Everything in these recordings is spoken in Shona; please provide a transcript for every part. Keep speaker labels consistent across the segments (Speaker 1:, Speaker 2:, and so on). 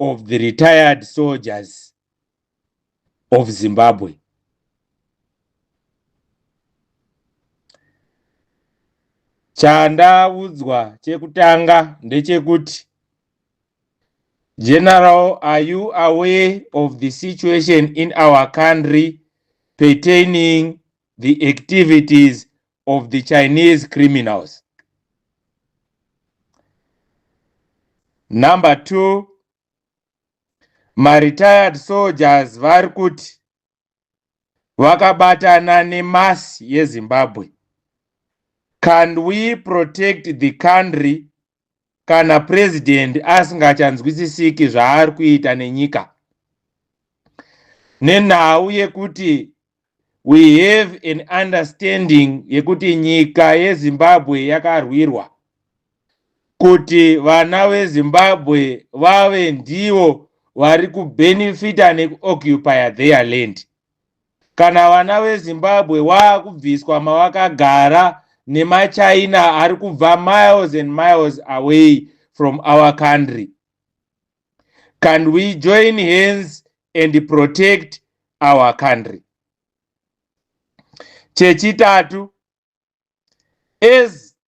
Speaker 1: of the retired soldiers of Zimbabwe. Chandaudzwa chekutanga ndechekuti General, are you aware of the situation in our country pertaining the activities of the Chinese criminals. Number two, my retired soldiers vari kuti vakabatana nemasi yezimbabwe can we protect the country kana president asingachanzwisisiki zvaari kuita nenyika nenhau yekuti we have an understanding yekuti nyika yezimbabwe yakarwirwa kuti vana vezimbabwe vave ndivo vari kubenefita nekuoccupya their land Kana vana veZimbabwe wakubviswa mawakagara nemaChina ari kubva miles and miles away from our country. Can we join hands and protect our country? Chechitatu, as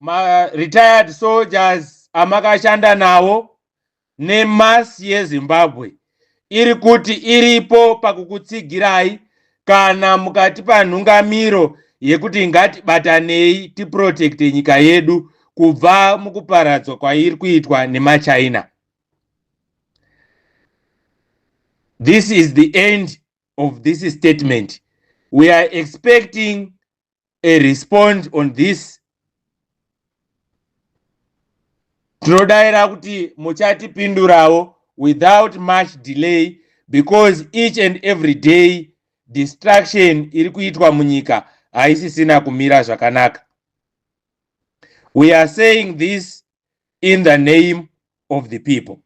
Speaker 1: ma retired soldiers amakashanda nawo nemasi yezimbabwe iri kuti iripo pakukutsigirai kana mukatipa nhungamiro yekuti ngatibatanei tiprotekte nyika yedu kubva mukuparadzwa kwairi kuitwa nemachina this is the end of this statement we are expecting a respond on this tinodaira kuti muchatipindurawo without much delay because each and every day distraction iri kuitwa munyika haisisina kumira zvakanaka we are saying this in the name of the people